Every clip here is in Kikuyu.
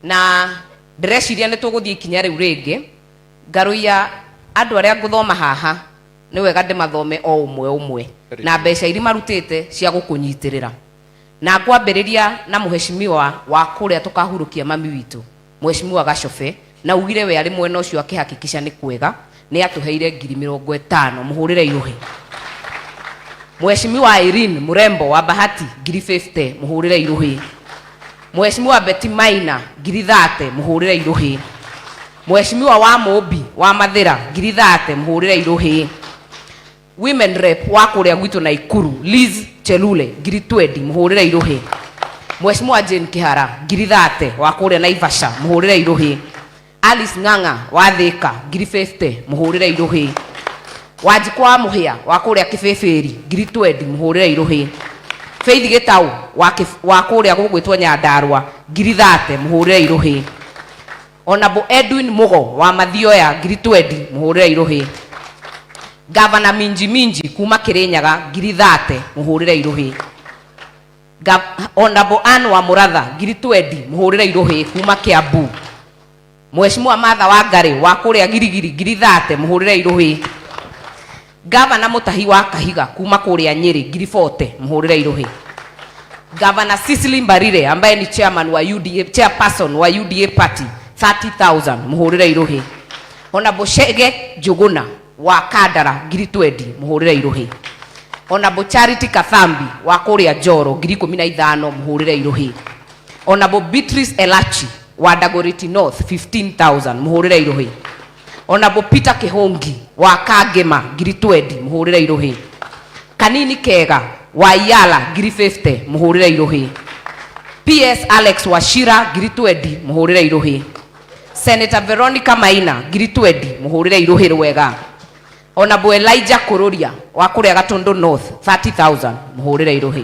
na ndĩreciria nĩ tũgũthiĩ ikinya rĩu rĩngĩ ngarũia andũ arĩa ngũthoma haha nĩ wega ndĩmathome o ũmwe ũmwe na mbeca iria marutĩte cia gũkũnyitĩrĩra na ngwambĩrĩria na mũheshimiwa wa kũrĩa tũkahurũkia mami witũ mũheshimiwa gacobe Na augire we arĩ mwena ũcio akĩhakikisha nĩ kwega nĩ atũheire ngiri mĩrongo ĩtano mũhũrĩre iũhĩ. Mheshimiwa Irene Mrembo wa Bahati ngiri 50 mũhũrĩre iũhĩ. Mheshimiwa Betty Maina ngiri 30 mũhũrĩre iũhĩ. Mheshimiwa wa Mũmbi wa Mathĩra ngiri 30 mũhũrĩre iũhĩ. Women rep wa kũrĩa gwitũ Naikuru Liz Chelule ngiri twendi mũhũrĩre irũhĩ. Mheshimiwa Jane Kihara ngiri thate wa kũrĩa Naivasha mũhũrĩre irũhĩ. Alice Ng'ang'a wa Thĩka ngiri 50 mũhũrĩre irũhĩ. Wanjikũ wa Mũhĩa wa kũrĩa Kĩbĩbĩri ngiri twendi mũhũrĩre irũhĩ. Faith Gĩtaũ wa, wa kũrĩa gũgwĩtwo Nyandarua ngiri thate mũhũrĩre irũhĩ. Honorable Edwin Mugo wa Mathioya ngiri twendi mũhũrĩre irũhĩ. Gavana Minji Minji kuma Kĩrĩnyaga ngiri thate mũhũrĩre irũhĩ. Ga- Honorable Ann wa Mũratha ngiri twendi mũhũrĩre irũhĩ kuma Kiambu. Mheshimiwa Martha Wangari wa kũrĩa Girigiri ngiri thate mũhũrĩre irũhĩ. Ngavana Mũtahi wa Kahiga kuma kũrĩa Nyeri, Ngiribote, mũhũrĩre irũhĩ. Ngavana Cecily Mbarire ambaye ni chairman wa UDA, chairperson wa UDA party 30,000 mũhũrĩre irũhĩ. Ona Bushege Njuguna wa Kandara ngiri 20 mũhũrĩre irũhĩ. Ona Charity Kathambi wa kũrĩa Njoro ngiri ikũmi na ithano mũhũrĩre irũhĩ. Ona Beatrice Elachi wa Dagoretti North 15,000 mũhũrĩre irũhĩ. ona mũ Peter Kĩhũngi wa Kangĩma ngiri 20 mũhũrĩre irũhĩ, Kanini Kega wa Yala ngiri 50 mũhũrĩre irũhĩ, PS Alex Wachira ngiri 20 mũhũrĩre irũhĩ, Senator Veronica Maina ngiri 20 mũhũrĩre irũhĩ rwega, ona mũ Elijah Kũrũria wa kũrĩa Gatũndũ North 30,000 mũhũrĩre irũhĩ.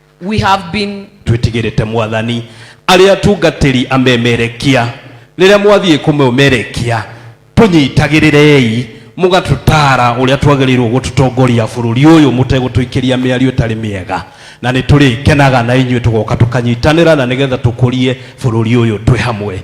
We have been twĩtigĩrĩte mwathani arĩa atungatĩri amemerekia rĩrĩa mwathiĩ kũmemerekia tũnyitagĩrĩrei mũgatũtara ũrĩa twagĩrĩirwo gũtũtongoria bũrũri ũyũ mũtegũtũikĩria mĩario ĩtarĩ mĩega na nĩ tũrĩkenaga na inyuĩ tũgoka tũkanyitanĩra na nĩgetha tũkũrie bũrũri ũyũ twĩ hamwe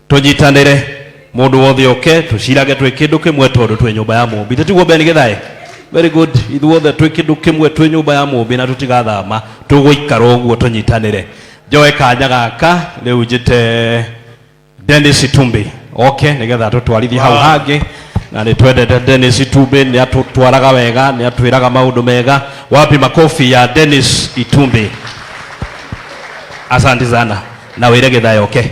tũnyitanĩre mũndũ wothe oke tũcirage twĩ kĩndũ kĩmwe tondũ twĩ nyũmba ya mũmbi tĩtiguo ben gĩthaĩ very good ithuothe twĩ kĩndũ kĩmwe twĩ nyũmba ya mũmbi na tũtigathama tũgũikara ũguo tũnyitanĩre njoe kanya gaka rĩu njĩte denis tumbi oke nĩgetha tũtwarithie hau hangĩ na nĩ twendete denis tumbi nĩ atũtwaraga wega nĩ atwĩraga maũndũ mega wapi makobi ya denis itumbi asanti sana na wĩre gĩthaĩ oke okay.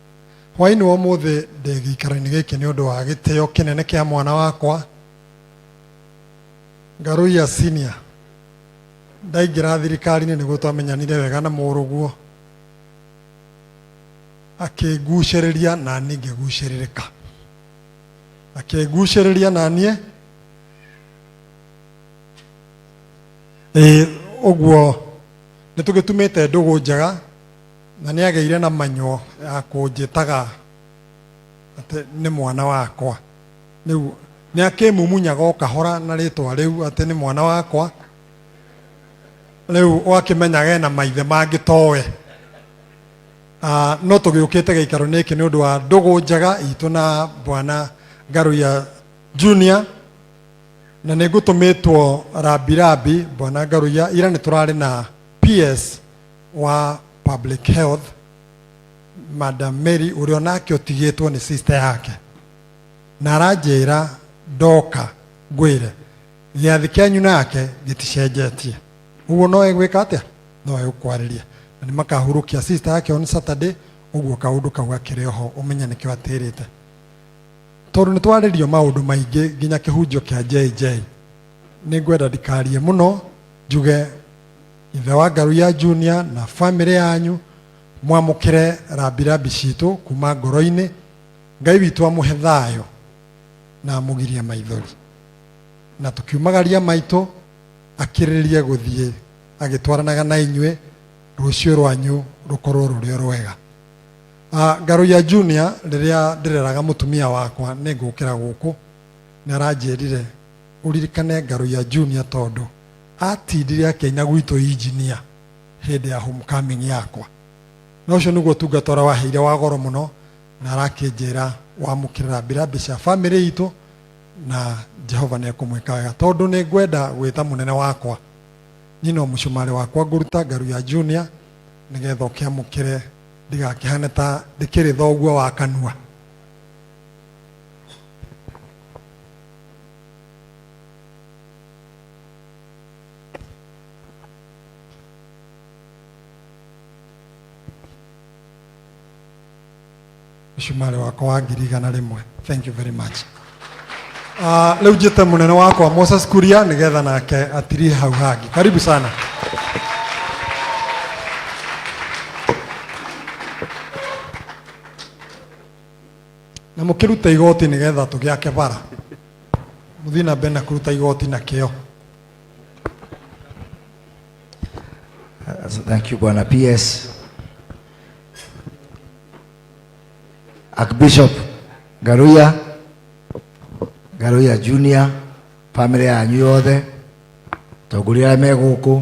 Hwaĩ-inĩ wa ũmũthĩ ndĩ gĩikaro-inĩ gĩkĩ nĩ ũndũ wa gĩtĩo kĩnene kĩa mwana wakwa Ngaruiya Senior. Ndaingĩra thirikari-inĩ nĩguo twamenyanire wega na mũrũguo, akĩngucĩrĩria na niĩ ngĩgucĩrĩrĩka, akĩngucĩrĩria na niĩ ĩĩ ũguo nĩ tũgĩtumĩte ndũgũ njega Na nĩ agĩire na manyuo ya kũnjĩtaga atĩ nĩ mwana wakwa. Rĩu nĩ akĩmumunyaga o kahora na rĩtwa rĩu atĩ nĩ mwana wakwa. Rĩu ũgakĩmenyaga ena maithe mangĩ towe. Ah, no tũgĩũkĩte gĩikaro-inĩ gĩkĩ nĩ ũndũ wa ndũgũ njega itũ na bwana Ngaruya Junior na nĩ ngũtũmĩtwo rambirambi bwana Ngaruya ira nĩ tũrarĩ na PS wa public health madam mary ũrĩa onake ũtigĩtwo nĩ sister yake na aranjĩra ndoka ngwĩre gĩathĩ kĩanyu nake gĩticenjetie ũguo no egwĩka atĩa no egũkwarĩria na nĩ makahurũkia sister yake on saturday ũguo kaũndũ kau gakĩrĩ oho ũmenye nĩkĩo atĩrĩte tondũ nĩ twarĩrio maũndũ maingĩ nginya kĩhunjio kĩa jj nĩ ngwenda ndikarie mũno njuge ithe wa ngaru ya junior na bamĩrĩ yanyu mwamũkĩre rambirambi citũ kuma ngoro-inĩ ngai witũ amũhe thayũ na amũgirie maithori na tũkiumagaria maitũ akĩrĩrĩrie gũthiĩ agĩtwaranaga na inyuĩ rũciũ rwanyu rũkorwo rũrĩ o rwega Ah, ngaru ya junior rĩrĩa ndĩreraga mũtumia wakwa nĩ ngũkĩra gũkũ nĩ aranjĩrire ũririkane ngaru ya junior tondũ atindire akĩina gwitũ injinia hĩndĩ ya homecoming yakwa na ũcio nĩguo ũtungata ũrĩa waheire wa goro mũno na arakĩnjĩra wamũkĩrĩra mbirambĩ cia bamĩrĩ itũ na jehova nĩ ekũmwĩka wega tondũ nĩ ngwenda gwĩta mũnene wakwa niĩ no mũcumarĩ wakwa ngũruta ngaru ya junior nĩgetha ũkĩamũkĩre ndigakĩhane ta ndĩkĩrĩ thoguo wa kanua mĩcumarĩ wakwa wa ngiri igana rĩmwe thank you very much Ah, rĩu njĩte mũnene wakwa moses kuria nĩgetha nake atirie hau hangĩ karibu sana Na mũkĩrute igoti nĩgetha tũgĩake bara. Mũthiĩ na mbere na kũruta igoti na kĩo. Thank you Bwana PS. Archbishop Garuya, Garuya Junior, family yanyu yothe, tongoria arĩa me gũkũ,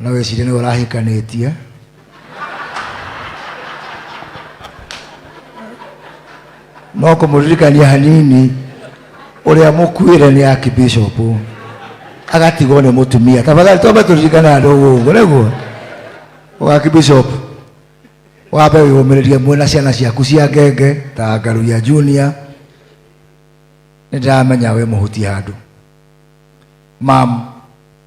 no wĩcirie nĩwe ũrahikanĩtie no kũmũririkania hanini ũrĩa mũkuĩre nĩ archbishop agatigwo nĩ mũtumia tafadhali twambe tũririkane andũ ũguo nĩguo ũgakibishop wambe wĩyũmĩrĩrie mwĩna ciana ciaku cia ngenge ta ngaruria junior nĩ ndĩramenya wĩ mũhuti handũ mam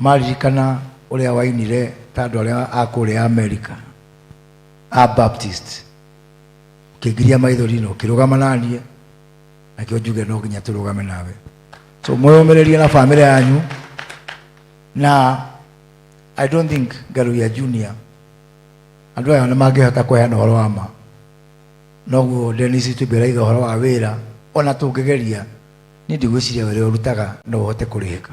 maririkana ũrĩa wainire ta andũ arĩa a kũrĩa amerika a baptist ũkĩngiria maithori na ũkĩrũgama naniĩ nakĩo njuge no nginya tũrũgame nawe so mwĩyũmĩrĩrie na bamĩrĩ yanyu na i don't think ngaruya junior andå aya nä mangä hota kweheana å horo wa ma noguo denis tubä raiga å horo wa wä ra ona tå ngä geria nä ndigwä ciria wä rä å rutaga no å hote kå rä hä ka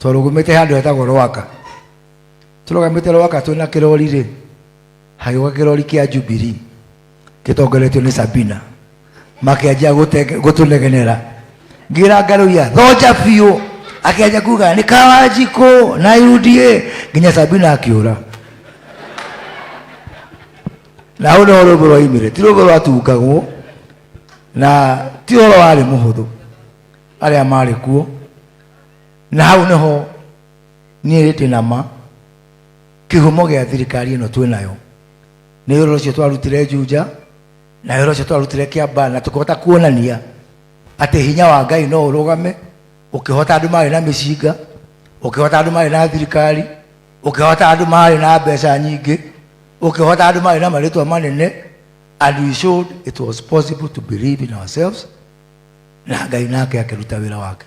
twarũgũmĩte handũ hetagwo rwaka tũrũgamĩte rwaka twĩ na kĩrori rĩ hagĩũka kĩrori kĩa jubiri gĩtongoretio nĩ sabina makĩanjia gũtenge- gũtũnegenera ngira ngarũia thonja biũ akĩanjia kuga nĩ kawanjikũ na uda nginya sabina akĩũra na hau nĩho rũmbũ rwaimire ti rũmbũ rwatungagwo na ti ũhoro warĩ mũhũthũ arĩa marĩ kuo na hau nĩho niĩ rĩndĩ na ma kĩhumo gĩa thirikari ĩno twĩ nayo nĩ wĩra ũcio twarutire njunja na wĩra ũcio twarutire kĩamba na tũkĩhota kuonania atĩ hinya wa ngai no ũrũgame ũkĩhota andũ marĩ na mĩcinga ũkĩhota andũ marĩ na thirikari ũkĩhota andũ marĩ na mbeca nyingĩ ũkĩhota andũ marĩ na marĩtwa manene and we showed it was possible to believe in ourselves na ngai nake akĩruta wĩra wake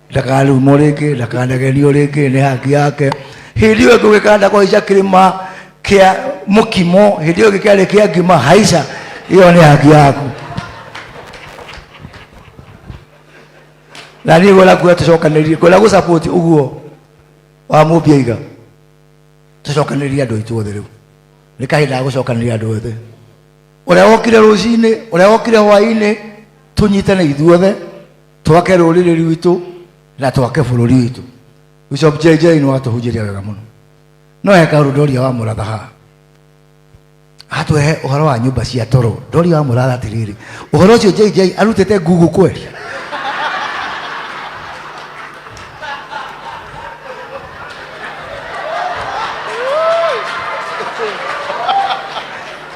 ndakarumwo rĩngĩ ndakanagerio rĩngĩ nĩ haki yake hĩndĩ ĩyo ngũgĩkanda kũhaica kĩrĩma kĩa mũkimo hĩndĩ ĩyo gĩkĩarĩ kĩa ngima haica ĩyo nĩ haki yaku na niĩ ngwenda kuga tũcokanĩrie ngwenda gũsapoti ũguo wa mũmbiaiga tũcokanĩrie andũ aitũ othe rĩu nĩ kahinda ga gũcokanĩria andũ othe ũrĩa wokire rũcinĩ ũrĩa wokire hwainĩ tũnyitane ithuothe twake rũrĩrĩ rwitũ na twake bũrũri witũ bishop jj nĩ watũhunjĩria wega mũno no eka ũndũ ndoria wa mũratha haha atwehe ũhoro wa nyũmba cia toro ndoria wa mũratha atĩrĩrĩ ũhoro ũcio jj arutĩte google kweli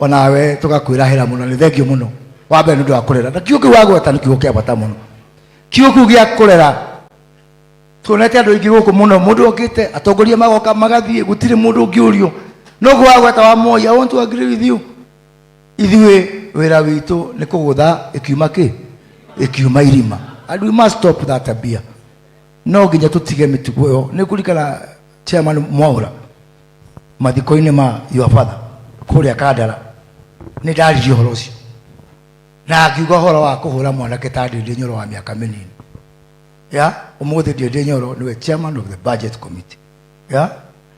onawe tugakwirahira muno ni thengio muno wa mbere nundu wa kurera na kiugo kiu wagweta ni kiugo kia bata muno kiugo kiu gia kurera tuonete andu aingi guku muno mundu okite atongoria magoka magathie gutiri mundu ungiurio nugu wagweta wa moya i want to agree with you ithuĩ wĩra witũ nĩ kũgũtha ĩkiuma kĩ ĩkiuma irima and we must stop that tabia no nginya tũtige mĩtugo ĩyo nĩ kũrikana chairman mwaura mathiko-inĩ ma your father kũrĩa kandara nĩ ndaririe ũhoro ũcio na akiuga ũhoro wa kũhũra mwanake ta ndĩndĩ nyoro wa mĩaka mĩnini ya ũmũthĩ ndĩndĩ nyoro nĩwe chairman of the budget committee ya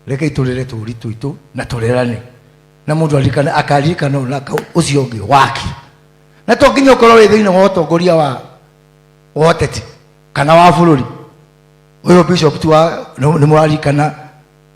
reke itũrĩre tũũri tũitũ na tũrerane na mũndũ arikane akaririkana ũna ũcio ũngĩ waki na to nginya ũkorwo wĩ thĩinĩ wa ũtongoria wa wa ũteti kana wa bũrũri ũyũ bishop tu wa nĩ mũrarikana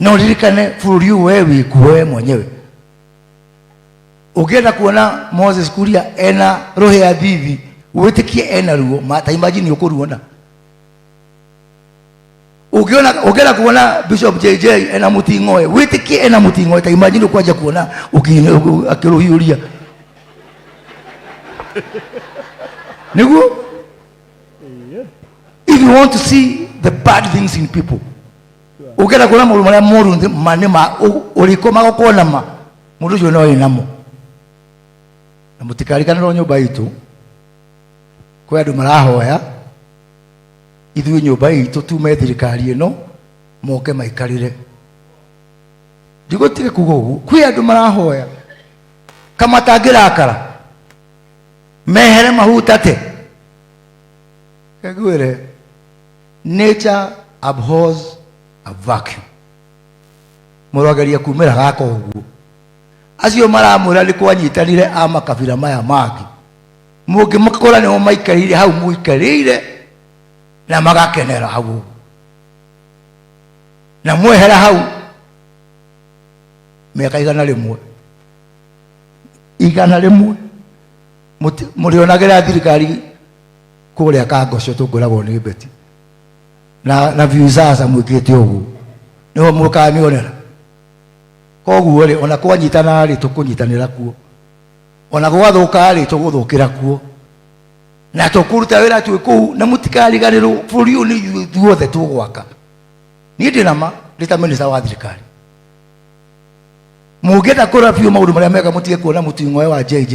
na uririkane bũrũri ũyũ wee wĩkuo wee mwenyewe ũngĩenda kuona moses kuria ena rohe ya thithi wĩtĩkie ena ruo ma- ta imagine ũkũruona ũngĩona ũngĩenda kuona bishop jj ena mũting'oe wĩtĩkie ena mũting'oe ta imagine ũkwanja kuona ũki- ũki- akĩrũhiũria nĩguo if you want to see the bad things in people ukenda kuona maundu maria moru nthi- mani ma u- uriku magukuona ma mundu ucio no wi namo na mutikarikanirwo nyumba itu kwi andu marahoya ithuĩ nyũmba itũ tume thirikari ĩno moke maikarĩre ndigũtige kuga ũguo kwĩ andũ marahoya kama tangĩrakara mehere mahutate ngwĩre Nature abhors a vacuum. Mũrogeria kumĩra gaka ũguo. Acio maramwĩra nĩ kwanyitanire a makabira maya mangĩ. Mũngĩmakora nĩmo maikarĩire hau mũikarĩire na magakenera hau ũguo. Na mwehera hau mĩaka igana rĩmwe igana rĩmwe mũti- mũrĩonagĩra thirikari kũrĩa kangoco tũngoragwo nĩ mbeti na na visaza mwĩkĩte ũguo nĩho mũkanionera koguo rĩ ona kwanyitana rĩ tũkũnyitanĩra kuo ona gwathũka rĩ tũgũthũkĩra kuo na tũkũruta wĩra twĩ kũu na mũtikariganĩrwo bũrũri ũyũ nĩ ithuĩ ithuothe tũgwaka niĩ ndĩ nama ndĩ ta minista wa thirikari mũngĩenda kũra biũ maũndũ marĩa mega mũtige kuona mũting'oe wa jj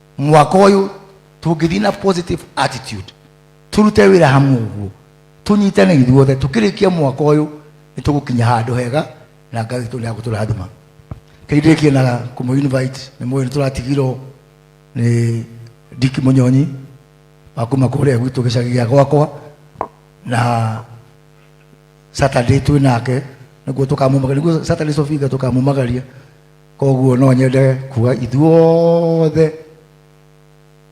mwaka ũyũ tũngĩthiĩ na positive attitude tũrute wĩra hamwe ũguo tũnyitane ithuothe tũkĩrĩkia mwaka ũyũ nĩ tũgũkinya handũ hega na ngai witũ nĩ agũtũrathima kĩrindĩkie na kũmũ invite nĩ mũĩ nĩ tũratigirwo nĩ ndiki mũnyonyi wa kuma kũrĩa gwitũ gĩcagi gĩa gwakwa na saturday twĩ nake nĩguo tũkamumagaria nĩguo saturday sofinga tũkamumagaria koguo no nyende kuga ithuothe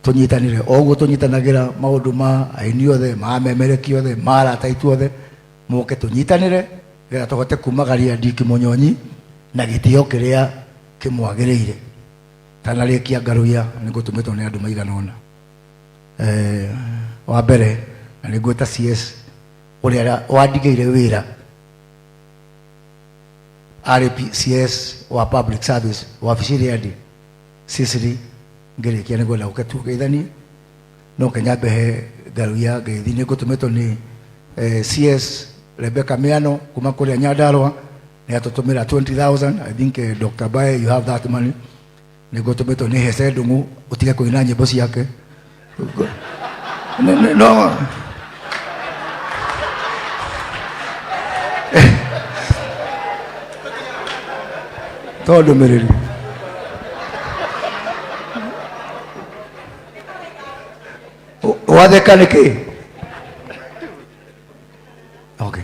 tũnyitanĩre oguo tũnyitanagĩra maũndũ ma aini othe ma memereki othe ma arata aitũ othe moke tũnyitanĩre getha tũhote kumagaria ndiki mũnyonyi na gĩtĩo kĩrĩa kĩmwagĩrĩire tanarĩkia ngarũia nĩ ngũtũmĩtwo nĩ andũ maigana ũna Eh, wa mbere na nĩ ngwĩta cs ũrĩa wandigĩire wĩra RPCS wa public service wabici-inĩ ya ndĩ ciciri ngĩrĩkia nĩ gwenda gũke tugeithanie no kenya mbehe ngaru ya ngeithi nĩ ngũtũmĩtwo nĩ eh, CS Rebecca Miano kuma kũrĩa Nyandarua nĩ atũtũmĩra 20000 I think eh, Dr. Bae you have that money niguo tumetwo ni hece ndungu utige kuina nyimbo ciake Ni- ni- no to ndumiriri U- watheka niki okay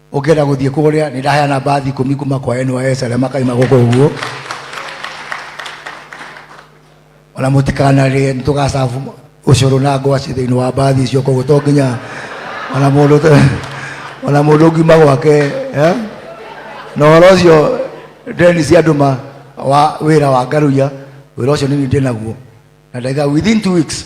ũngĩenda gũthiĩ kũrĩa nĩ ndaheana mbathi ikũmi kuma kwa NYS arĩa makaima gũkũ ũguo ona mũtikanarĩe nĩ tũgacabu ũcũrũ na ngwacĩ thĩinĩ wa mbathi icio koguo to nginya ona mũndũ te- ona mũndũ ũngiuma gwake eh? na ũhoro ũcio ndeni cia ndũma wa wĩra wa ngaruia wĩra ũcio nini ndĩ naguo na ndaiga within two weeks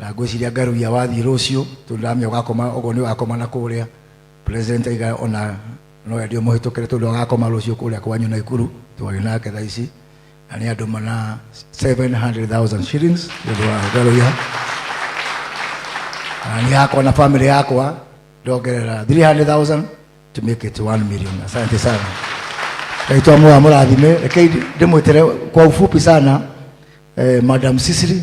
na ngwĩciria ngarugia wathiĩ rũciũ tondũ ndamenya ũgakoma ũguo nĩ ũgakoma na kũrĩa president aiga ona no endio mũhĩtũkĩre tondũ agakoma rũciũ kũrĩa kwanyu na ikuru twarĩ nake thaa ici na nĩ andũ mana 700,000 shillings nĩ ũndũ wa ngarugia na nĩ yakwa na family yakwa ndongerera 300,000 to make it 1 million asante sana kaitwa moa mũrathime rekei ndĩmwĩtere kwa ufupi sana eh, madam sisiri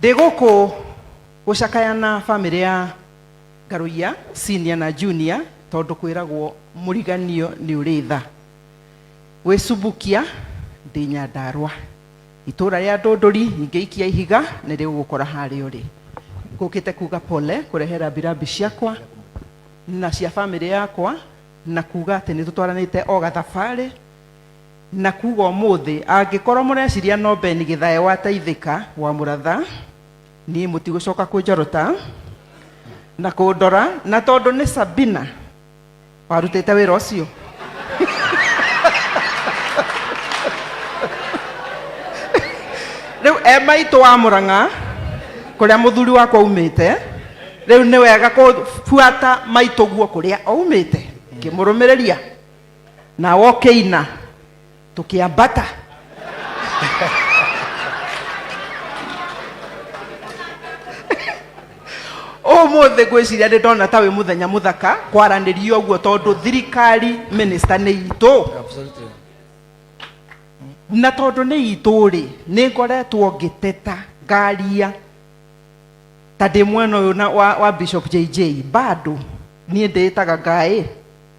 Ndĩ gũkũ gũcakaya na bamĩrĩ ya Ngarũiya senior na junior tondũ kwĩragwo mũriganio nĩ ũrĩ tha. Gwĩ Subukia ndĩ Nyandarũa. Itũũra rĩa Ndũndũri nyingĩ ikia ihiga nĩ rĩgũgũkora harĩa ũrĩ. Ngũkĩte kuga pole kũrehe rambirambi ciakwa na cia bamĩrĩ yakwa na kuga atĩ nĩ tũtwaranĩte o gathabarĩ. Na kuga ũmũthĩ, angĩkorwo mũreciria no Ben Gĩthae wa Taithĩka wa Mũratha, niĩ mũtigũcoka kũnjorota na kũndora, na tondũ nĩ Sabina warutĩte wĩra ũcio. Rĩu e maitũ wa Mũrang'a kũrĩa mũthuri wakwa aumĩte, rĩu nĩ wega kũbuata maitũguo kũrĩa aumĩte ngĩmũrũmĩrĩria na wokĩina tũkĩambata ũmũthĩ ngwĩciria nĩ ndona ta wĩ mũthenya mũthaka kwaranĩria ũguo tondũ thirikari mĩnĩsta nĩ itũ Absolutely. na tondũ nĩ itũ rĩ nĩ ngoretwo ngĩteta ngaria ta ndĩ mwena ũyũ na- wa, wa bishop jj bado niĩ ndĩĩtaga ngaĩ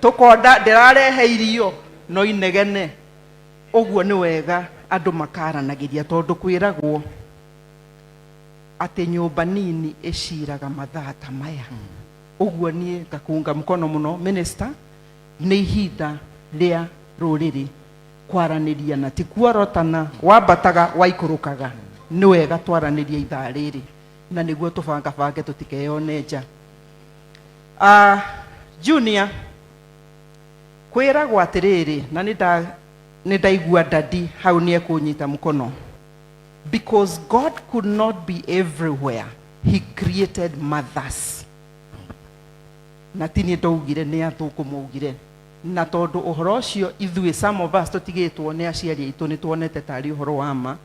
Tũkonda ndĩrarehe irio no inegene. Ũguo nĩ wega andũ makaaranagĩria tondũ kwĩragwo atĩ nyũmba nini ĩciraga mathaa ta maya. Ũguo niĩ ngakũnga mkono mũno minister, nĩ ihinda rĩa rũrĩrĩ kwaranĩria na ti kuorotana wambataga waikũrũkaga. Nĩ wega twaranĩrie ithaa rĩrĩ na nĩguo tũbangabange tũtikeyone nja. Ah, junior kwĩragwo atĩrĩrĩ na nĩ nda- nĩ ndaigua dadi hau nĩ ekũnyita mũkono because god could not be everywhere he created mothers na ti niĩ ndaugire nĩ athũngũ maugire na tondũ ũhoro ũcio ithuĩ some of us tũtigĩtwo nĩ aciari aitũ nĩ tuonete tarĩ ũhoro wa ma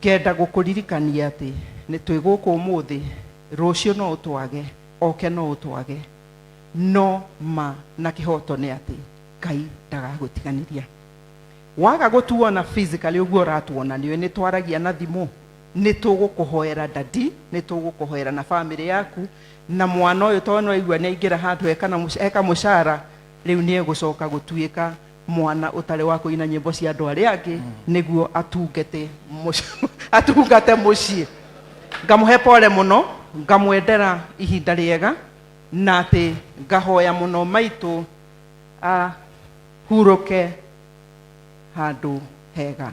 Ngenda gũkũririkania atĩ nĩ twĩ gũkũ ũmũthĩ, rũciũ no ũtwage, oke no ũtwage, no ma na kĩhoto nĩ atĩ Ngai ndagagũtiganĩria. Waga gũtuona physically ũguo ũratuona, nĩũĩ nĩ twaragia na thimũ, nĩ tũgũkũhoera daddy, nĩ tũgũkũhoera na family yaku, na mwana ũyũ tondũ nĩ waigua nĩ aingĩra handũ eka mũcara, rĩu nĩ egũcoka gũtuĩka mwana ũtarĩ wa kũina nyĩmbo cia andũ arĩa angĩ nĩguo atungete mũci- atungate mũciĩ ngamũhe pole mũno ngamwendera ihinda rĩega na atĩ ngahoya mũno maitũ ahurũke handũ hega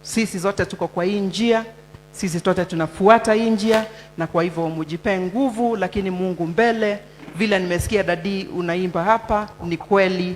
sisi zote tuko kwa hii njia sisi zote tunafuata hii njia na kwa hivyo mujipee nguvu lakini mungu mbele vile nimesikia dadii unaimba hapa ni kweli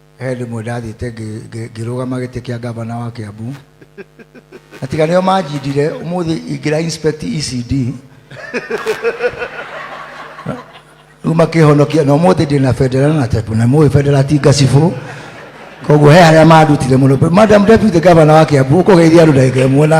he rĩmwe ndathiĩte ngĩ- ngĩ- ngĩrũgama gĩtĩ kĩa ngavana wa kĩambu na tiga nĩo manjindire ũmũthĩ ingĩra inspect ecd rĩu makĩhonokia na ũmũthĩ ndĩ na bendera na tepu na mũĩ bendera ti ngacibũ koguo he harĩa mandutire mũno madam deputy gavana wa kĩambu ũkũgeithia andũ ndagĩka ĩmwe na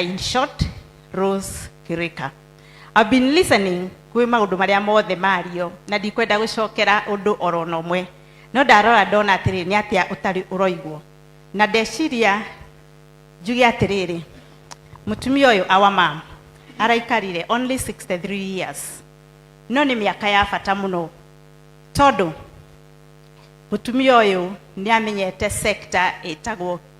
in short Rose Kirika I've been listening kwĩ maũndũ marĩa mothe mario na ndikwenda gũcokera ũndũ oro na ũmwe no ndarora ndona atĩrĩ nĩ atĩa ũtarĩ ũroigwo na ndeciria njuge atĩrĩrĩ mũtumia ũyũ awa mam araikarire only 63 years no nĩ mĩaka ya bata mũno tondũ mũtumia ũyũ nĩ amenyete sector ĩtagwo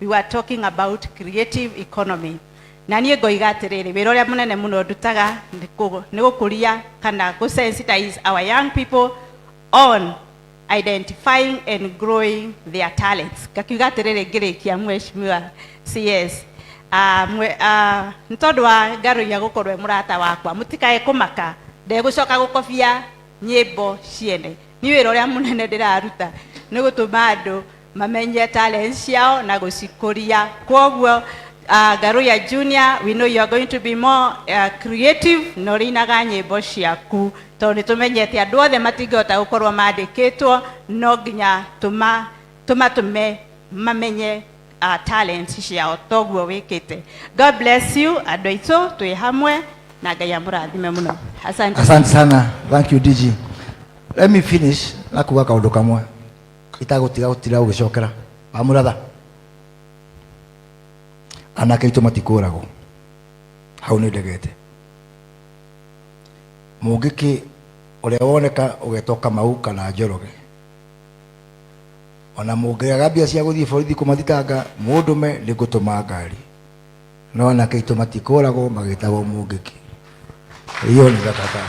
we were talking about creative economy na niĩ ngoiga atĩrĩrĩ wĩra ũrĩa mũnene mũno ndutaga nĩ kũ- nĩ gũkũria kana gũ sensitize our young people on identifying and growing their talents ngakiuga atĩrĩrĩ ngĩrĩkia mweshimiwa cs Ah, mwe- ah, nĩ tondũ wa ngarũia gũkorwo e mũrata wakwa mũtikae kũmaka ndegũcoka gũkobia nyĩmbo ciene nĩ wĩra ũrĩa mũnene ndĩraruta nĩ gũtũma andũ mamenye talent ciao na gucikuria kwoguo uh, garuya junior we know you are going to be more uh, creative na urinaga nyimbo ciaku tondu ni tumenyete andu othe matingihota gukorwo mandikitwo no nginya tuma tumatume mamenye uh, talent ciao toguo wikite god bless you andu aitũ twĩ hamwe na ngai amũrathime mũno asante asante sana thank you dg let me finish na kuga kaundu kamwe itagũtiga gũtira gũgĩcokera wamũratha anake aitũ matikũragwo hau nĩ ndegete mũngĩkĩ ũrĩa woneka ũgetwo kamau kana njoroge ona mũngĩaga mbia cia gũthiĩ borithi kũmathitanga mũndũme nĩ ngũtũma ngari No anake aitũ matikũragwo magĩtagwo mũngĩki. Hiyo ni thakata.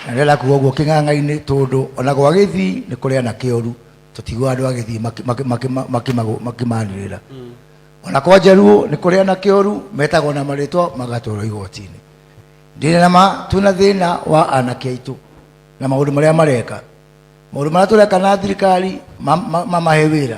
Na ndĩrenda kuga ũguo kĩng'ang'a-inĩ tondũ ona gwa gĩthii nĩ kũrĩ anake oru tũtiguaga andũ a gĩthii maki- maki- maki- makimago- makimanĩrĩra ona kwa njaruo nĩ kũrĩ anake oru metagwo na marĩtwa magatwarwo igoti-inĩ ndĩna na ma twĩna thĩna wa anake aitũ na maũndũ marĩa mareka maũndũ marĩa tũreka na thirikari ma- ma- mamahe wĩra